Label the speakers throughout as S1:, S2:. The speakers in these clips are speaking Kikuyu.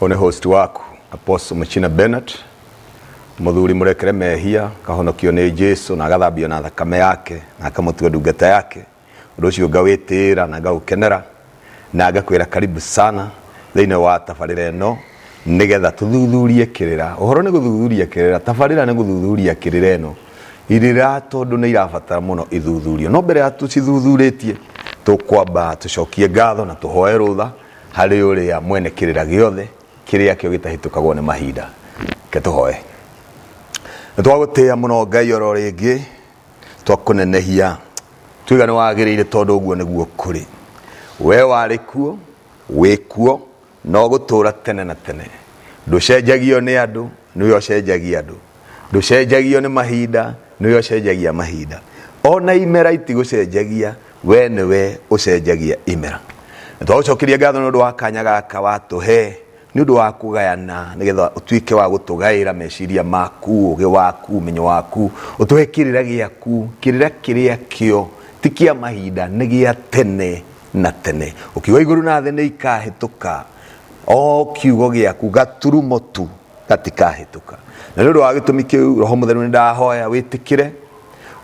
S1: one host waku apostle muchina bernard muthuri murekere mehia kahonokio ni jesu na agathambio na thakame yake na akamutua ndungata yake undu ucio ngawitira na ngaukenera na ngakwira karibu sana thiini wa tabarira ino nigetha tuthuthurie kirira uhoro ni guthuthuria kirira tabarira ni guthuthuria kirira ino irira tondu ni irabatara muno ithuthurio no mbere ya tucithuthuretie tukwamba tucokie ngatho na tuhoe rutha Harĩ ũrĩa mwene kĩrĩra gĩothe, kĩrĩa kĩo gĩtahĩtũkagwo nĩ mahinda. Reke tũhoe. Nĩ twagũtĩa mũno Ngai oro rĩngĩ, twakũnenehia, tuiga nĩ wagĩrĩire tondũ ũguo nĩguo kũrĩ. We warĩ kuo, wĩ kuo, na ũgũtũũra tene na tene. Ndũcenjagio nĩ andũ, nĩwe ũcenjagia andũ ndũcenjagio nĩ mahinda nĩwe ũcenjagia mahinda ona imera itigũcenjagia we nĩwe ũcenjagia imera twagũcokeria ngatho nĩ ũndũ wa kanya gaka watũhe nĩ ũndũ wa kũgayana nĩgetha ũtuĩke wa gũtũgaĩra meciria maku ũgĩ waku ũmenyo waku ũtũhe kĩrĩra gĩaku kĩrĩra kĩrĩa kĩo ti kĩa mahinda nĩ gĩa tene na tene ũkiuga igũrũ na thĩ nĩ ikahĩtũka o kiugo gĩaku gaturumo tu gatikahĩtũka na nĩ ũndũ wa gĩtũmi kĩu roho mũtheru nĩ ndahoya wĩtĩkĩre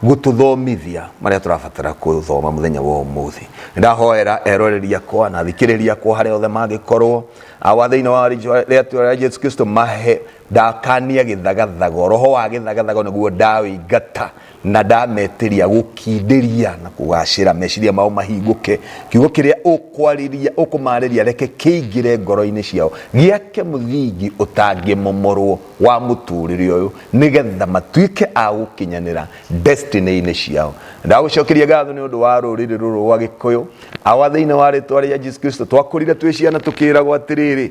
S1: gũtũthomithia marĩa tũrabatara gũthoma mũthenya wa ũmũthĩ nĩ ndahoera eroreri akwa na thikĩrĩria akwa harĩa othe mangĩkorwo awa thĩinĩ wa rĩĩtwa rĩa jesu kristo mahe ndakania gĩthagathago roho wa gĩthagathago nĩguo ndawĩingata na ndametĩria gũkindĩria na kũgacĩra meciria mao mahingũke kiugo kĩrĩa ũkwarĩria ũkũmarĩria reke kĩingĩre ngoro-inĩ ciao gĩake mũthingi ũtangĩmomorwo wa mũtũrĩre ũyũ nĩgetha matuĩke a gũkinyanĩra destiny-inĩ ciao ndagũcokeria ngatho nĩ ũndũ wa rũrĩrĩ rũrũ rwa gĩkũyũ awa thĩinĩ wa rĩtwa rĩa Jesus Kristo twakũrire twĩ ciana tũkĩragwo atĩrĩrĩ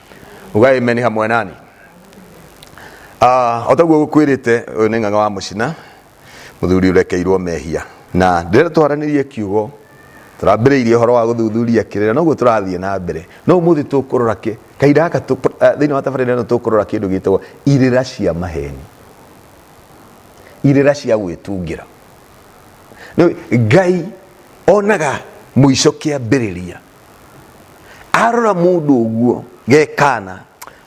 S1: uga amen hamwe nani Ah, o taguo gukwirite uyu ni ng'ang'a wa mucina muthuri urekeirwo mehia na ndire twaranirie kiugo turambiriirie horo wa guthuthuria kirira noguo turathie na mbere no umuthi tukurora ki kaida gaka tu- eh, thiini wa tabarira ino tukurora kindu gitagwo irira cia maheni irira cia gwitungira Nĩ- ngai onaga mũico kĩambĩrĩria arora mundu uguo gekana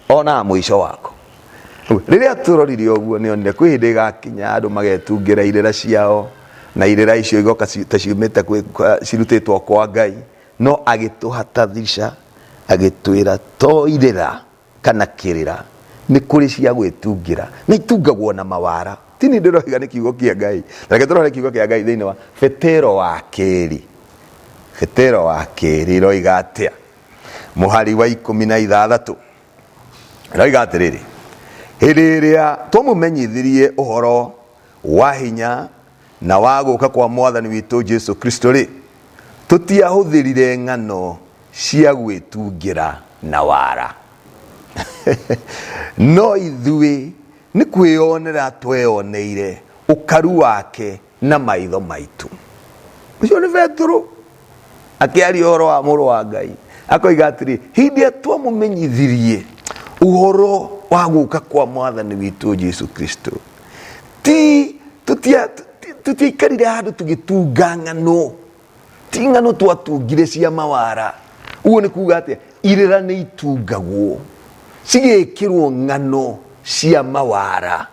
S1: ona muico wako riria turorire uguo ni onire kwi hindi igakinya andu magetungira irira ciao na irira icio igoka ci- ta ciumite kwi- kwa- cirutitwo kwa ngai no agituhatha thica agitwira to irira kana kĩrĩra nĩ kũrĩ cia gwĩtungĩra na itungagwo na mawara ti nĩ ndĩroiga nĩ kiugo kĩa ngai reke tũrore kiugo kĩa ngai thĩinĩ wa betero wa kerĩ betero wa kerĩ roiga atĩa mũhari wa ikũmi na ithathatũ roiga atĩrĩrĩ hĩndĩ ĩrĩa twamũmenyithirie ũhoro wa hinya na wa gũka kwa mwathani witũ jesu kristo rĩ tũtiahũthĩrire ng'ano cia gwĩtungĩra na wara. No ithuĩ nĩ kwĩyonera tweyoneire ũkaru wake na maitho maitũ. Ũcio nĩ Petero akĩaria ũhoro wa mũrũ wa Ngai. Akoiga atĩrĩ, hĩndĩ ĩrĩa twamũmenyithirie ũhoro wa gũka kwa mwathani witũ Jesu Kristo, ti tũtiaikarire handũ tũgĩtunga ng'ano ting'ano twatungire cia mawara uguo nĩ kuga atĩa irĩra nĩ itungagwo cigĩkĩrwo ng'ano cia mawara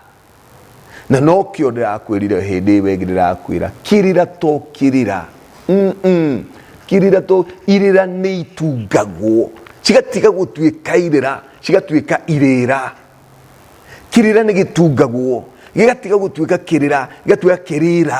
S1: na no kĩo ndĩrakwĩrire hĩndĩ ĩwe ĩngĩ ndĩrakwĩra kĩrĩra to kĩrĩra Mm-mm. kĩrĩra to irĩra nĩ itungagwo cigatiga gũtuĩka irĩra cigatuĩka irĩra kĩrĩra nĩ gĩtungagwo gĩgatiga gũtuĩka kĩrĩra gĩgatuĩka kĩrĩra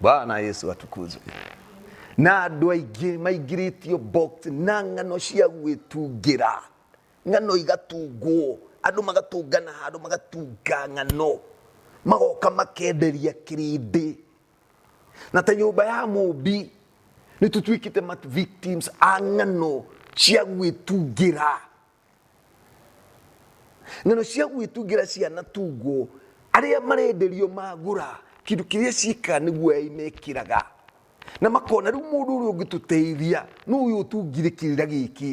S1: bwana yesu atukuzwe na andå aingä maingä box na ng'ano cia gwĩtungĩra ng'ano igatungwo andå magatũngana handå magatunga ng'ano magoka makenderia kĩrĩndĩ na ta nyũmba ya mũmbi nĩ tũtuĩkĩte ma victims a ng'ano cia gwĩtungĩra ng'ano cia gwĩtungĩra cianatungwo arĩa marenderio magũra kĩndũ kĩrĩa ciĩkaga nĩguo ai mekĩraga na makona rĩu mũndũ ũrĩa ũngĩtũteithia nĩ ũyũ ũtungire kĩrĩra gĩkĩ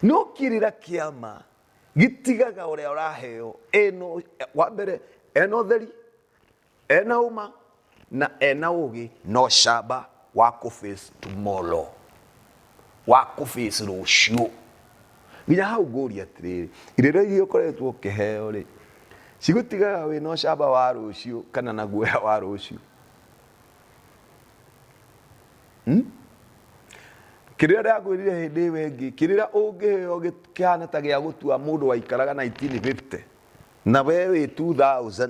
S1: no kĩrĩra kĩama gĩtigaga ũrĩa ũraheo eno wa mbere ena ũtheri Ena ũma na ena ũgĩ no camba wa kũface tomorrow, wa kũface rũciũ. Nginya hau ngũria atĩrĩrĩ, irĩra iria ũkoretwo ũkĩheo rĩ, cigũtigaga wĩna ũcamba wa rũciũ kana na guoya wa rũciũ? Hmm? Kĩrĩra ndĩrakwĩrire hĩndĩ ĩyo ĩngĩ, kĩrĩra ũngĩheo kĩhana ta gĩa gũtua mũndũ waikaraga 1950 na we wĩ 2000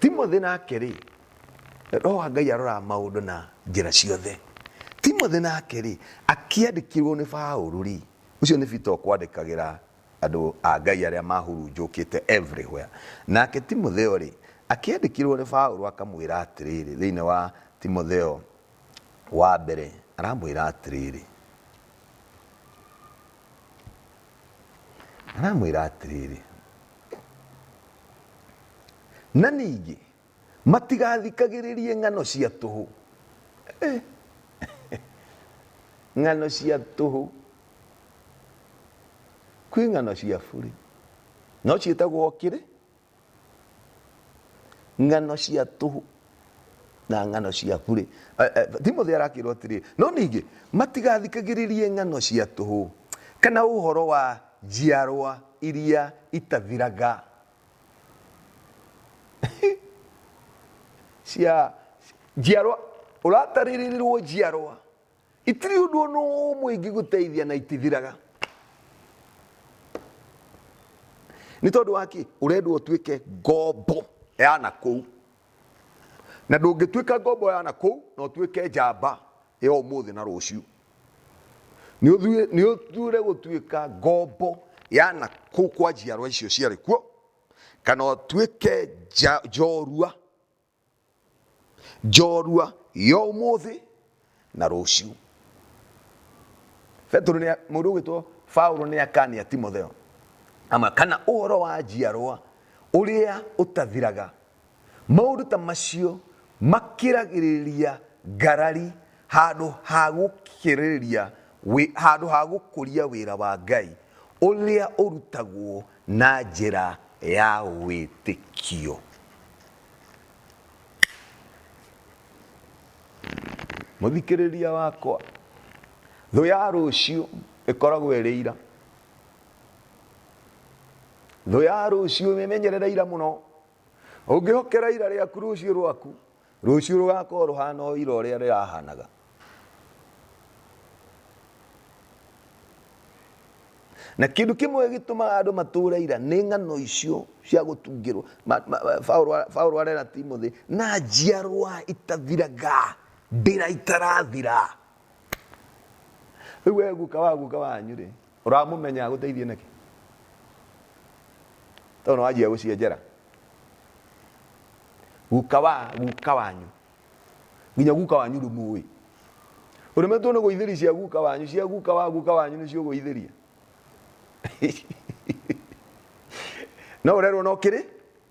S1: Timothĩ nake-rĩ, Roho wa Ngai aroraga maũndũ na njĩra ciothe. Timothĩ nake-rĩ, akĩandĩkirwo nĩ Paũlũ-rĩ, ũcio nĩ Peter ũkwandĩkagĩra andũ a Ngai arĩa mahurunjũkĩte everywhere. Nake Timotheo-rĩ, akĩandĩkirwo nĩ Paũlũ akamwĩra atĩrĩrĩ, thĩinĩ wa Timotheo Wa mbere, aramwĩra atĩrĩrĩ, aramwĩra atĩrĩrĩ, na ningĩ matigathikagĩrĩrie ng'ano cia tũhũ. Eh. ng'ano cia tũhũ kwĩ ng'ano cia burĩ no ciĩtagwo kĩrĩ ng'ano cia tũhũ na ng'ano cia burĩ Eh, eh, timothy arakĩrwo atĩrĩ no ningĩ matigathikagĩrĩrie ng'ano cia tũhũ kana ũhoro wa njiarwa iria itathiraga cia njiarwa ũratarĩrĩrwo njiarwa Itirĩ ũndũ o na ũmwe ingĩgũteithia na itithiraga. Nĩ tondũ wa kĩ? Ũrendwo ũtuĩke ngombo ya na kũu, na ndũngĩtuĩka ngombo ya na kũu na ũtuĩke njamba ya ũmũthĩ na rũciũ. Nĩ ũthuĩ- nĩ ũthuure gũtuĩka ngombo ya na kũu kwa njiarwa icio ciarĩ kuo, kana ũtuĩke nja- njorua njorua ya ũmũthĩ na rũciũ petero nĩ mũndũ ũgwĩtwo paulo nĩ akania timotheo ama kana ũhoro wa njiarwa ũrĩa ũtathiraga maũndũ ta macio makĩragĩrĩria ngarari handũ ha gũkĩrĩria wĩ- handũ ha gũkũria wĩra wa ngai ũrĩa ũrutagwo na njĩra ya wĩtĩkio. Mũthikĩrĩria wakwa, thũ ya rũciũ ĩkoragwo ĩrĩ ira. Thũ ya rũciũ, wĩmenyerere ira mũno. Ũngĩhokera ira rĩaku rũciũ rwaku, Rũciũ rũgaakorũo rũhaana o ira ũrĩa rĩrahaanaga. Na kĩndũ kĩmwe gĩtũmaga andũ matũũre ira nĩ ng'ano icio cia gũtungĩrũo. Paulo arera Timothĩ, Na njiarũa itathiraga, ndĩra itarathira. rĩu we guka wa guka wanyu rĩ ũramũmenya agũteithie nĩkĩ tondũ nĩ wanjia gũcienjera guka wa guka wanyu nginya guka wanyu ndũmũĩ ũremetwo nĩ gũithĩria cia guka wanyu cia guka wa guka wanyu nĩcio ũgũithĩria no ũrerwo no kĩrĩ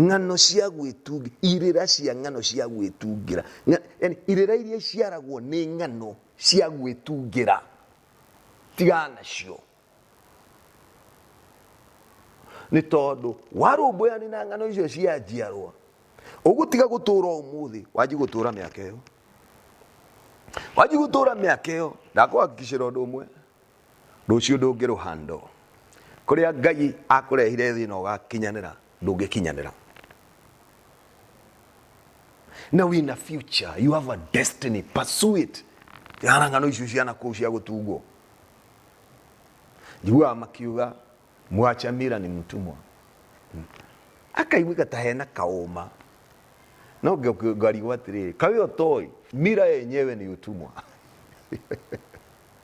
S1: ng'ano cia gwĩtungĩra irĩra cia ng'ano cia gwĩtungĩra Ng'a- yaani irĩra iria iciaragwo nĩ ng'ano cia gwĩtungĩra tiga nacio nĩ tondũ warũmbũyani na ng'ano icio cia njiarwa ũgũtiga gũtũra ũmũthĩ wanji gũtũra mĩaka ĩyo wanji gũtũra mĩaka ĩyo ndakwakikicĩra ũndũ ũmwe Rũciũ ndũngĩrũhandwo. Kũrĩa Ngai akũrehire thĩna ũgakinyanĩra ndũngĩkinyanĩra. Na wĩna future, you have a destiny, pursue it. Tigana na ng'ano icio cia nakũu cia gũtungwo. Njiguaga makiuga mwacha mira ni mtumwa. Akaiguĩka ta hena kaũma. No ngĩ- ngarigwo atĩrĩrĩ, kaĩ ũtoĩ mira yenyewe ni utumwa.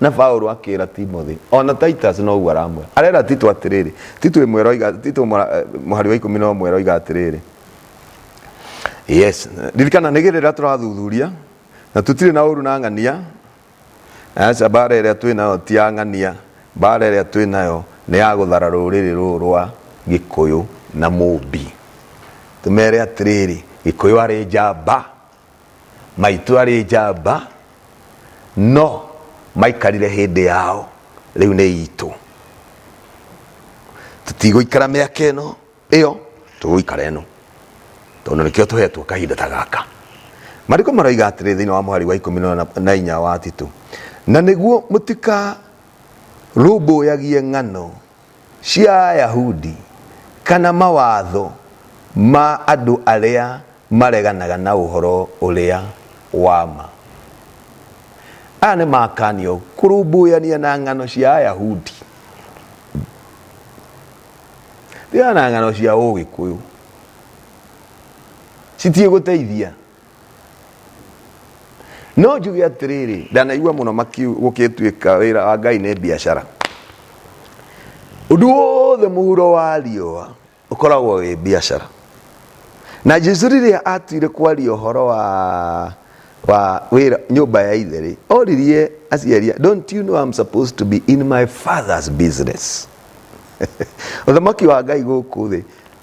S1: Na Paulo akĩĩra Timothy, o na Titus no ũguo aramwĩra. Arera Tito atĩrĩrĩ, Tito ĩmwe eroiga, Tito ĩmwe, eh, mũhari wa ikũmi na ũmwe eroiga atĩrĩrĩ, yes ririkana nĩ gĩrĩra tũrathuthuria na tũtirĩ na ũru na ng'ania aca mbara ĩrĩa twĩ nayo ti ya ng'ania mbara ĩrĩa twĩ nayo nĩ ya gũthara rũrĩrĩ rũrũ rwa gĩkũyũ na mũmbi tũmere atĩrĩrĩ gĩkũyũ arĩ njamba Maitũ arĩ njamba no maikarire hĩndĩ yao rĩu nĩ itũ tũtigũikara mĩaka ĩno ĩyo tũgũikara ĩno tondũ nĩkĩo tũhetwo kahinda ta gaka marĩko maroiga atĩrĩ thĩinĩ wa mũhari wa ikũmi na inya wa titũ na nĩguo mũtikarũmbũyagie ng'ano cia Ayahudi kana mawatho ma andũ arĩa mareganaga na ũhoro ũrĩa wa ma. Aya nĩ makanio kũrũmbũyania na ng'ano cia Ayahudi. Thiana ng'ano cia Ũgĩkũyũ citiĩgũteithia no njuge atiriri ndanaigua muno makiu gukituika wira wa ngai ni biashara undu wothe muhuro wa riua ukoragwo wi biashara na jesu riria atuire kwaria uhoro wa wa wira nyumba ya ithe ri oririe aciaria don't you know I'm supposed to be in my father's business uthamaki wa ngai guku thi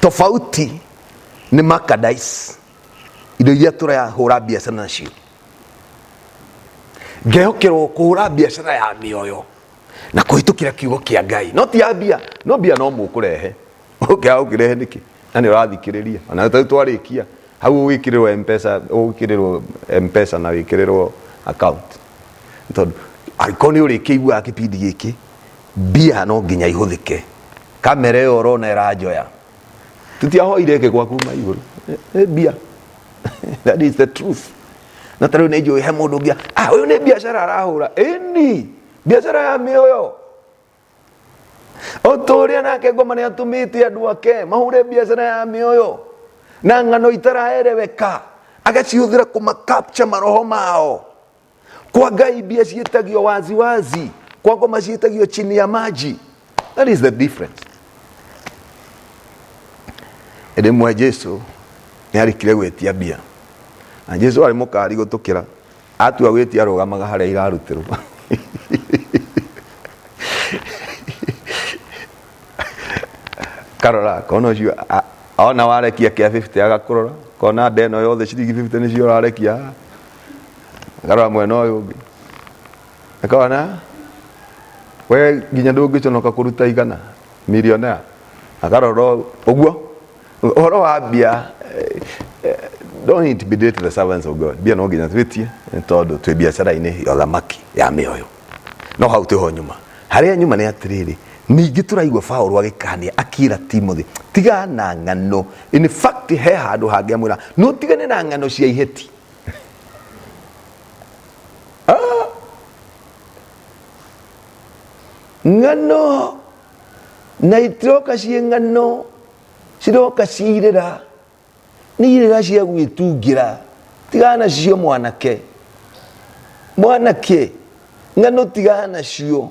S1: tofauti nĩ merchandise indo iria tũrahũra biacara nacio ngehokerwo kũhũra biacara ya mĩoyo na kũhĩtũkĩra kiugo kĩa ngai no ti ya mbia no mbia no mũkũrehe ũngĩaga ũkĩrehe nĩkĩ na nĩ ũrathikĩrĩria ona tau twarĩkia hau ũgĩkĩrĩrwo mpesa ũgĩkĩrĩrwo mpesa na wĩkĩrĩrwo account tondũ angĩkorwo nĩ ũrĩkĩiguaga kĩbindi gĩkĩ mbia no nginya ihũthĩke kamera ĩyo ũrona ĩranjoya tũtiahoire ĩke gwaku ma igũrũ Ĩ- ĩ mbia that is the truth na tarĩu nĩ njũĩ he mũndũ ũngĩ ah ũyũ nĩ biacara arahũra ĩni biacara ya mĩoyo o ta ũrĩa nake ngoma nĩ atũmĩte andũ ake mahũre biacara ya mĩoyo na ng'ano itaraereweka agacihũthĩra kũma capture maroho mao kwa ngai mbia ciĩtagio wazi wazi kwa ngoma ciĩtagio chini ya maji that is the difference rĩmwe jesu nĩ arĩkire gwĩtia mbia na jesu arĩ mũkari gũtũkĩra atua gwĩtia arũgamaga harĩa irarutĩrwo karora kona ũcio a- ona warekia kĩa 50 agakũrora kona nda ĩno yothe ciringi 50 nĩcio ũrarekia ngarora mwena ũyũ ũngĩ akona we nginya ndũngĩconoka kũruta igana millionaire akarora ũũ, ũguo ũhoro wa mbia eh, eh, don't intimidate the servants of God mbia no nginya twĩtie nĩ tondũ twĩ biacara-inĩ ya ũthamaki ya mĩoyo no hau tĩho nyuma harĩa nyuma nĩ atĩrĩrĩ ningĩ tũraigua Paulo agĩkania akĩra Timothy tiga na ng'ano in fact he handũ hangĩ amwĩra no tigane na ng'ano cia iheti ah ngano naitiroka cie ngano ciroka ciirĩra nĩ irĩra cia gwĩtungĩra tigana nacio mwanake mwanake ng'ano tigana nacio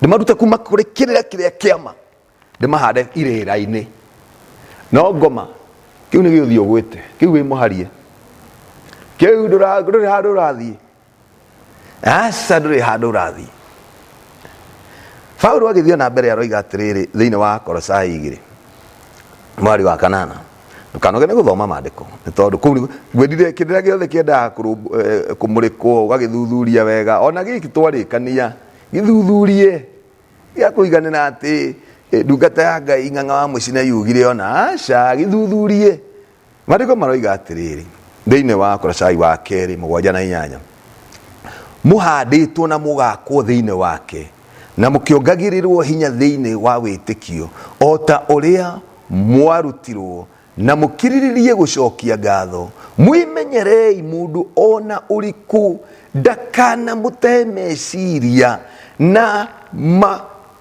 S1: ndĩmarute kuma kũrĩ kĩrĩra kĩrĩa kĩama ndĩmahande irĩra-inĩ no ngoma kĩu nĩ gĩũthiĩ ũgwĩte kĩu wĩ mũharie kĩu ndũra- ndũrĩ handũ ũrathiĩ aca ndũrĩ handũ ũrathiĩ paulo agĩthiĩ na mbere aroiga atĩrĩrĩ thĩinĩ wa korosai igĩrĩ mwari wa kanana ndũkanogene gũthoma maandĩko nĩ tondũ kũu nĩ- ngwendire kĩndĩra gĩothe kĩendaga kũrũmb- eh, kũmũrĩkwo ũgagĩthuthuria wega ona gĩkĩ twarĩkania gĩthuthurie gĩa kũiganĩra atĩ eh, ndungata ya ngai ng'ang'a wa mũcina yugire ona aca gĩthuthurie maandĩko maroiga atĩrĩrĩ thĩinĩ wa koracai wa kerĩ mũgwanja na inyanya mũhandĩtwo na mũgakwo thĩinĩ wake na mũkĩongagĩrĩrwo hinya thĩinĩ wa wĩtĩkio, o ta ũrĩa mwarutirwo, na mũkirĩrĩrie gũcokia ngatho. Mwĩmenyerei mũndũ o na ũrĩkũ ndakanamũte meciria na ma,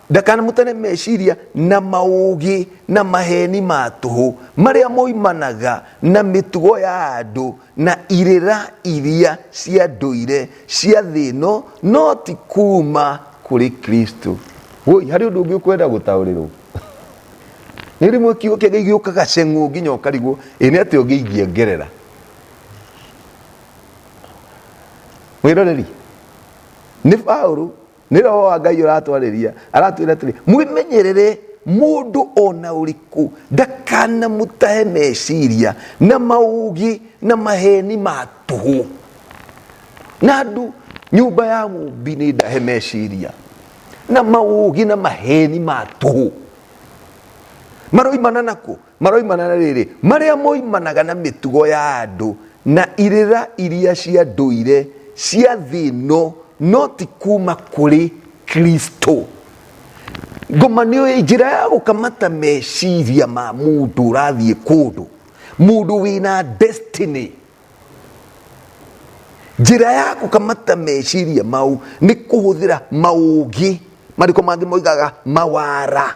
S1: ndakanamũte meciria na maũũgĩ na maheeni ma tũhũ, marĩa moimanaga na mĩtugo ya andũ na irĩra iria cia ndũire cia thĩ ĩno no ti kuuma kũrĩ Kristo. Woi, harĩ ũndũ ũngĩ ũkwenda gũtaũrĩrwo nĩ rĩmwe kiugo kĩa Ngai gĩũkaga ceng'ũ nginya ũkarigwo ĩ nĩ atĩa ũngĩ ingĩongerera mwĩroreri nĩ Paulo nä roho wa ngai å ratwarä ria aratwä ra atä rä mwĩmenyerere mũndũ ona ũrĩkũ ndakanamũtahe meciria na maũgĩ na maheni ma tũhũ na andũ nyũmba ya mũmbi nĩ ndahe meciria na maũgĩ na maheni ma tũhũ maroimana nakũ Maroimana na rĩrĩ, marĩa moimanaga na mĩtugo ya andũ na irĩra iria cia ndũire cia thĩ ĩno, no ti kuuma kũrĩ Kristo. Ngomanio ĩ njĩra ya gũkamata meciria ma mũndũ ũrathiĩ kũndũ, mũndũ wĩna destiny. Njĩra ya gũkamata meciria mau nĩ kũhũthĩra maũgĩ, marĩko mangĩ moigaga mawara.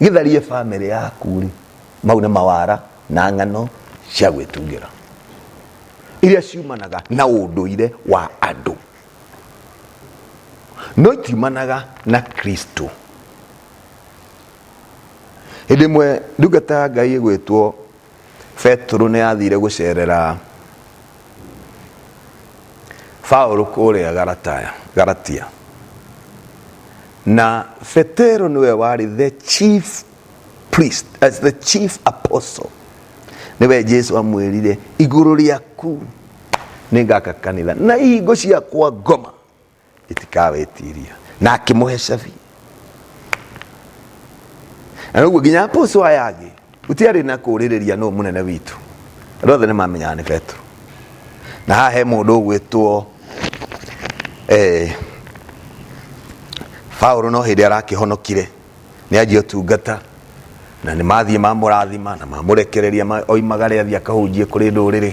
S1: gĩtharie bamĩrĩ yaku rĩ mau nĩ mawara na ng'ano cia gwĩtungĩra iria ciumanaga na ũndũire wa andũ no itiumanaga na kristo hĩndĩ ĩmwe ndungata ya ngai ĩgwĩtwo betũrũ nĩ athire gũcerera baũrũ kũrĩa garataya garatia na betero nĩwe warĩ the chief priest as the chief apostle nĩwe jesu amwĩrire igũrũ rĩaku nĩ ngaka kanitha na ihingo ciakwa ngoma itikawetiria na akĩmũhe cabi na noguo nginya apũcũ aya angĩ gũtiarĩ na kũrĩrĩria nũ mũnene witũ andũ othe nĩ mamenyaga nĩ petro na haha he mũndũ ũgwĩtwo eh, Paulo no hĩndĩ arakĩhonokire nĩ anjia ũtungata na nĩ mathiĩ mamũrathima na mamũrekereria ma- oimagare athiĩ akahunjie kũrĩ ndũrĩrĩ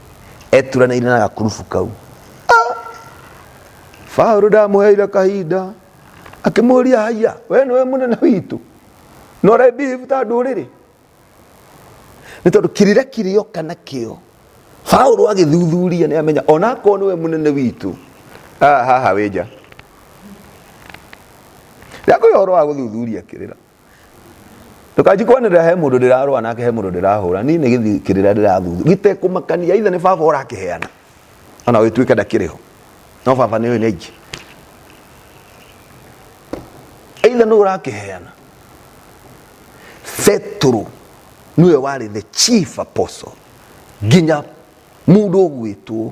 S1: eturanĩire na gakurubu kau Paulo ndamuheire kahinda akimuria haiya we niwe munene witu no re behave ta nduriri ni tondu kirire kirio kana kio Paulo agithuthuria ni amenya ona ko niwe munene witu ah haha wija Ndako yoro wa guthuthuria kirira Ndũkanji kwanĩrĩra he mũndũ ndĩrarũa nake he mũndũ ndĩrahũra niĩ nĩ gĩthiĩ kĩrĩra ndĩrathuthu gĩtekũmakania ithe nĩ baba ũrakĩheana ona wĩtuĩke ndakĩrĩ ho no baba nĩ ũyũ nĩ aingĩ either nĩ ũrakĩheana Petero nĩwe warĩ the chief apostle nginya mũndũ ũgwĩtwo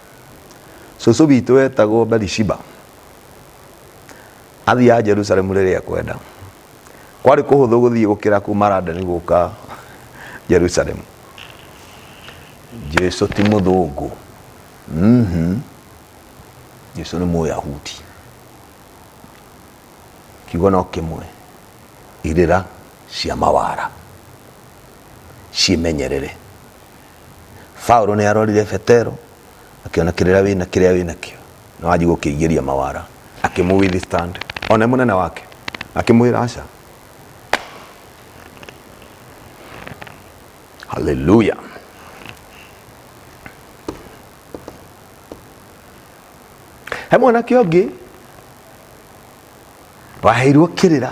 S1: Cũcũ witũ wetagwo Bathisheba athiaga Jerusalemu rĩrĩa ekwenda. Kwarĩ kũhũthũ gũthiĩ gũkĩra kuma London gũka Jerusalemu. Jesu ti mũthũngũ. Mhm. Jesu nĩ mũyahudi. Kiugo no kĩmwe. Irĩra cia mawara. Ciĩmenyerere. Paulo nĩarorire Petero akĩona kĩrĩa wĩna kĩrĩa wĩnakĩo na wanji gũkĩigĩria mawara akĩmũ withstand one mũnene wake akĩmwĩra aca haleluya he mwanake ũngĩ waheirwo kĩrĩra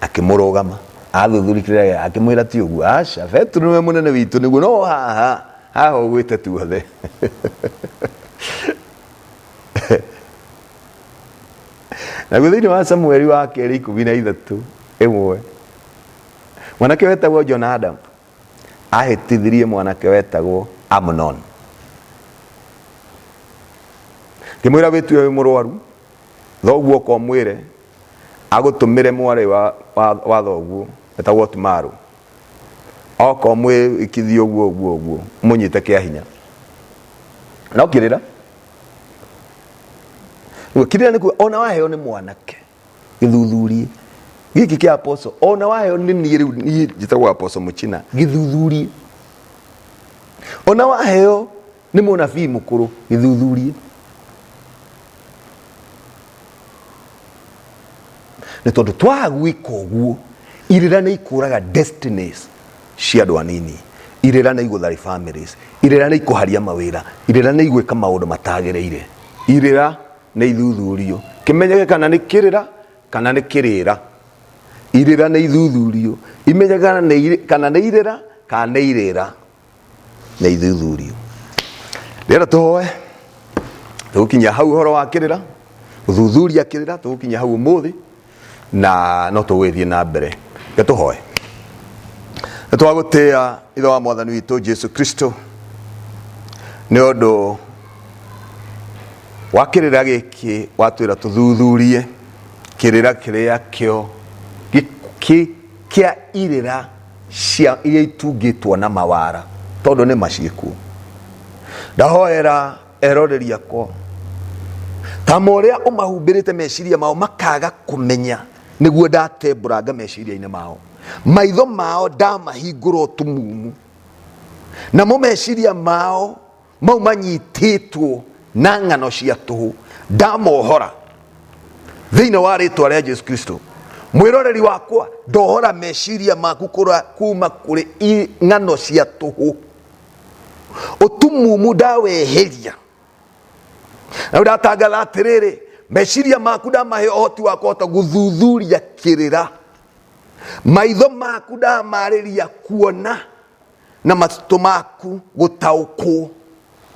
S1: akĩmũrũgama athuthuria kĩrĩa gĩa- akĩmwĩra ti ũguo aca petero nĩwe mũnene witũ nĩguo no haha haha ũgwĩte tuothe naguo thĩinĩ wa samueli wa kerĩ ikũmi na ithatũ ĩmwe mwanake wetagwo jonadabu ahĩtithirie mwanake wetagwo amnon ngĩmwĩra wĩtue wĩ mũrwaru Thoguo oka ũmwĩre agũtũmĩre mwarĩ wa wa wa thoguo etagwo Otumaru. Oka ũmwĩkithie ũguo ũguo ũguo mũnyite kĩa hinya. No kirĩra. Rĩu kirĩra nĩ kuga ona waheo nĩ mwanake gĩthuthurie gĩkĩ kĩa apostle ona waheo nĩ niĩ rĩu niĩ njĩtagwo apostle Mũchina gĩthuthurie. Ona waheo nĩ mũnabii mũkũrũ gĩthuthurie nĩ tondũ twaga gwĩka ũguo irĩra nĩ ikũraga destinies cia andũ anini irĩra nĩ igũthari families irĩra nĩ ikũharia mawĩra irĩra nĩ igwĩka maũndũ matagĩrĩire irĩra nĩ ithuthurio kĩmenyeke kana nĩ kĩrĩra kana nĩ kĩrĩra irĩra nĩ ithuthurio imenyeke kana nĩ irĩ- kana nĩ irĩra kana nĩ irĩra na ithuthurio rĩera tũhoe tũgũkinyia hau ũhoro wa kĩrĩra ũthuthuria kĩrĩra tũgũkinyia hau ũmũthĩ na no tũgũgĩthiĩ na mbere reke tũhoe nĩ twagũtĩa ithe wa mwathani witũ jesu kristo nĩ ũndũ wa kĩrĩra gĩkĩ watwĩra tũthuthurie kĩrĩra kĩrĩa kĩo gĩ- kĩ- kĩa irĩra cia iria itungĩtwo na mawara tondũ nĩ maciĩkuo ndahoera erore riakwa tamo ũrĩa ũmahumbĩrĩte meciria mao makaga kũmenya nĩguo ndatembũranga meciria-inĩ mao maitho mao ndamahingũra ũtumumu namo meciria mao mau manyitĩtwo na ng'ano cia tũhũ ndamohora thĩinĩ wa rĩtwa rĩa jesu kristo mwĩroreri wakwa ndohora meciria maku kũra- kuma kũrĩ i- ng'ano cia tũhũ ũtumumu ndaweheria na ndatangatha atĩrĩrĩ meciria maku ndamahe ũhoti wa kũhota gũthuthuria kĩrĩra maitho maku ndamarĩria kuona na matitũ maku gũtaũkwo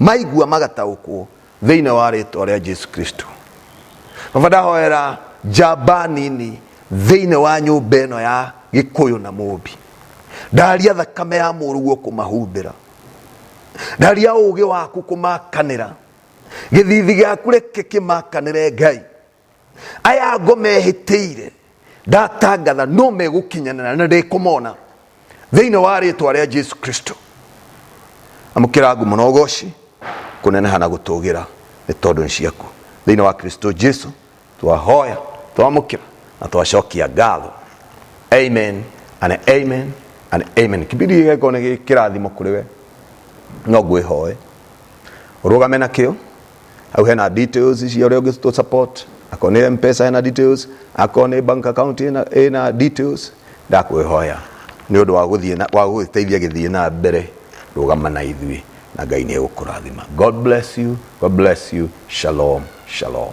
S1: maigua magataũkwo thĩinĩ wa rĩtwa rĩa jesu kristo baba ndahoera njamba nini thĩinĩ wa nyũmba ĩno ya gĩkũyũ na mũmbi ndaria thakame ya mũruguo kũmahumbĩra ndaria ũũgĩ waku kũmakanĩra gĩthithi gĩaku reke kĩmakanĩre ngai aya ngo mehĩtĩire ndatangatha no megũkinyanana na ndĩkũmona thĩinĩ wa rĩtwa rĩa jesu kristo amũkĩra ngumo na ũgoci kũneneha na gũtũgĩra nĩ tondũ nĩ ciaku thĩinĩ wa kristo jesu twahoya twamũkĩra na twacokia ngatho amen and amen and amen kibindi gĩgeko nĩ kĩrathimo kũrĩ we no ngwĩhoe ũrũgame na kĩo hau hena details cia ũrĩa ũngĩtũ support akorwo nĩ mpesa hena details akorwo nĩ bank account ĩna, ĩna details ndakwĩhoya nĩ ũndũ wa gũthiĩ na- wa gũgĩteithia gĩthiĩ na mbere rũgama na ithuĩ na ngai nĩ egũkũrathima god bless you god bless you shalom shalom